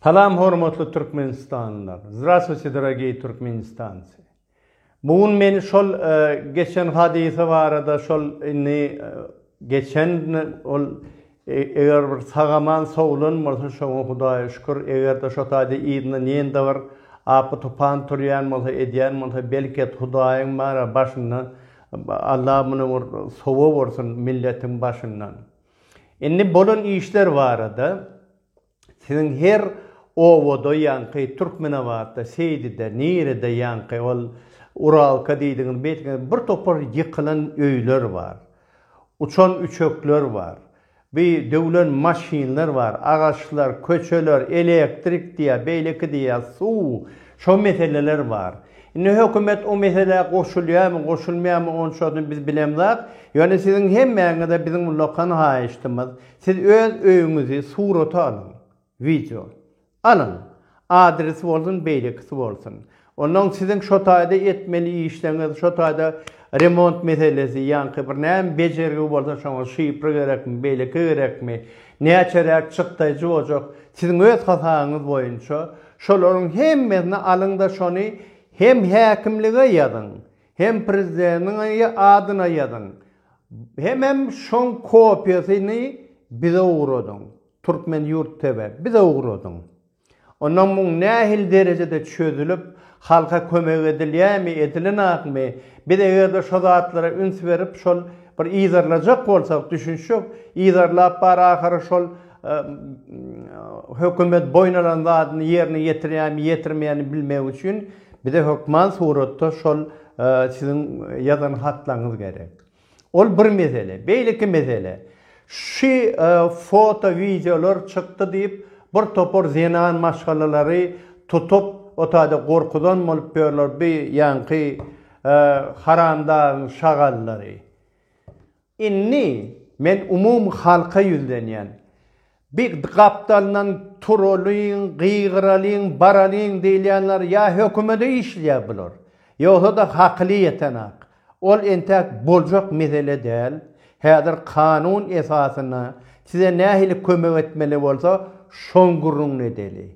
Salam hormatly türkmenistanlylar. Zdravstvuyte dorogiý türkmenistancy. Bu gün men şol e, geçen hadysa barada şol indi e, Geçen ol eger bir sagaman sowlan bolsa şoňa hudaýa şükür egerde şo taýda yzyndan ýene-de bir apy tupan turýan bolsa edýän bolsa belki et hudaýyň bana başynda Alla muny bir sowap ursun milletiň başyndan. Indi bolan işler barada Siziň her obada ýaňky Türkmenabatda, Seýdide, nirede ýaňky ol Uralka diýdigiňiz, beýtgiňiz bir topar ýykylan öýler bar. Uçan üçekler bar. Bu döwlen maşynlar bar, agaçlar, köçeler, elektrik diýýär, beýleki diýýär, suw, şo meseleler bar. Indi hökümet o meselä goşulýarmy, goşulmaýarmy onçasyny biz bilemzok. Ýöne siziň hemmäňize biziň ullakan haýyştymyz, Siz öz öýüňizi surata alyň, wideo. Alyň. Adresi bolsun beýlekisi bolsun. Onnoň siziň şo taýda etmeli işleňiz, şo taýda remont meselesi, ýaňky bir näme bejergi bolsa şoňa şifra gerekmi, beýleki gerekmi, näçeräk çykdaýjy boljak, siziň öz hasabyňyz boýunça şolaryň hemmesini alyň-da şony hem häkimlige ýazyň, Hem prezideniňi adyna ýazyň, hemem şoň kopiýasyny bize ugradyň. Turkmen yurt TV, bize ugradyň. Ondan muň nähili derejede çözülip, halka kömek edilýämi, edilenakmy, biz eger-de şo zatlara üns berip, şol bir yzarlajak bolsak, düşünişjek, yzarlap bar ahyry şol Hökümet boýun alan zadyny ýerine ýetirýärmi, ýetirmeýärmi bilmek üçin bize hökman suratda şol siziň ýazan hatlaryňyz gerek. Ol bir mesele. Beýleki mesele. Şu foto, wideolar çykdy diýip, bir topar zenan maşgalalary tutup, o taýda gorkuzan bolup ýörler bu ýaňky haramdagyň şagallary. Indi men umumy halka ýüzlenýän. Bi gapdalyndan turalyň, gygyralyň, baralyň diýilýänler ýa hökümede işleýär bular, ýogsa-da hakyly ýetenak. Ol entäk boljak mesele däl. Häzir kanun esasynda size nähili kömek etmeli bolsa, şoň gürrüňini edeli.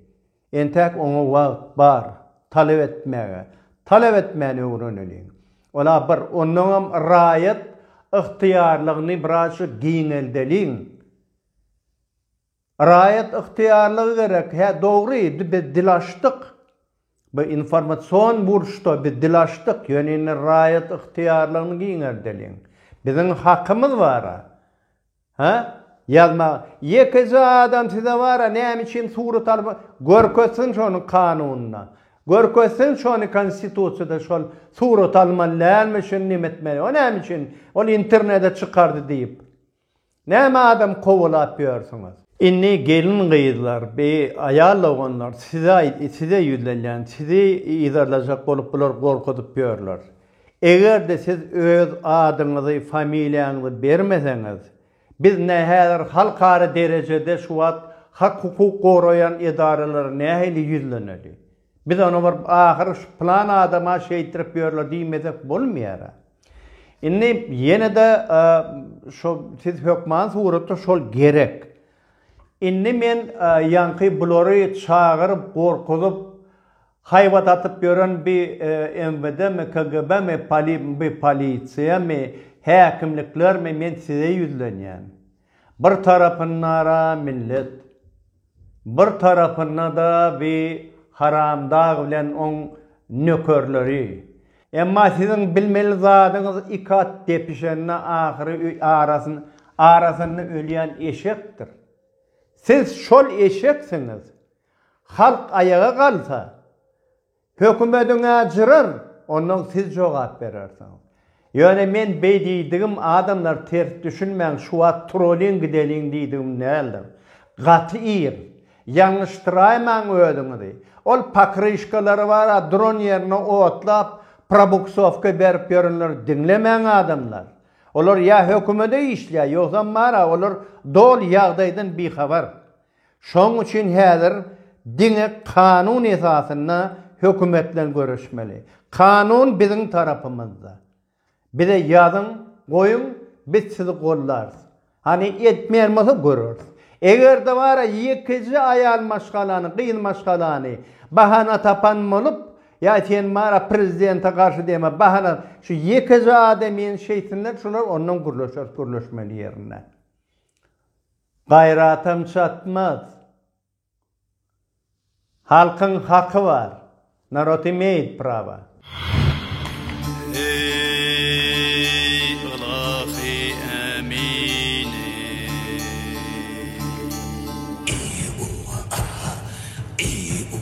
Entäk oňa wagt bar, talap etmäge. Talap etmäni öwreneliň. Ol-a bir. Ondaňam raýat ygtyýarlygyny birazjyk giňeldeliň. Raýat ygtyýarlygy gerek. Hä, dogry, indi biz dil açdyk. Bu informasion burçda biz dil açdyk. Ýöne indi raýat ygtyýarlygyny giňeldeliň. Biziň hakymyz bar-a. Hä? Ýazmaga. Ýekeje adam size bar-a, näme üçin surat alyp al-, görkezsin şony kanunda. Görkezsin şony konstitusiýada şol surat almaly dälmi, şuny näme etmeli. O näme üçin ol internede çykardy diýip. Näme adam kowalap ýörsüňiz. Indi gelin-gyzlar, bi aýal doganlar size aý, size ýüzlenýän, sizi yzarlajak bolup bular gorkuzyp ýörler. Eger-de siz öz adyňyzy, familiýaňyzy bermeseňiz, biz nä häzir halkara derejede şu wagt hak-hukuk goraýan edaralara nähili ýüzleneli? Biz ony bir ahyry şu plan adama şeýtdirip ýörler diýmesek bolmaýar-a. Indi ýene-de şo siz hökman suratda şol gerek. Indi men ýaňky bulary çagyryp, gorkuzyp, Haýbat atyp ýören bi MWD-mi, KGB-mi, bi polisiýamy, häkimliklermi men size ýüzlenýän. Bir tarapyndara millet. Bir tarapynda-da bi haramdag bilen oň nökerleri. Emma siziň bilmeli zadyňyz iki at depişende ahyry arasyn arasynda ölýän eşekdir. Siz şol eşeksiňiz. Halk aýaga galsa, hökümediň-ä jyrar, onnoň siz jogap berersiňiz. Ýöne men beý diýdigim adamlar ters düşünmäň şu wagt turulyň gideliň diýdigim däldir. Gaty ir. Ýalňyşdyraýmaň özüňizi. Ol pokryşkalary bar-a duran ýerine otlap, probuksowka berip ýörenleri diňlemäň adamlar. Olar ýa hökümede işleýär, ýogsam bar-a olar doly ýagdaýdan bihabar. Şonuň üçin häzir diňe kanun esasynda hökümet bilen göreşmeli. Kanun biziň tarapymyzda. Bize ýazyň, goýuň, biz sizi gollarys. Hany etmeýän bolsa göreris. Eger-de bara ýekeje aýal maşgalany, gyz maşgalany bahana tapan bolup, ýa sen bara prezidente garşy diýme, bahana şu ýekeje adamyny şeýtsinler, şular ondan gürleşeris, gürleşmeli ýerinde. Gaýratam çatmaz. Halkyň haky bar. Narod imeýit prawa.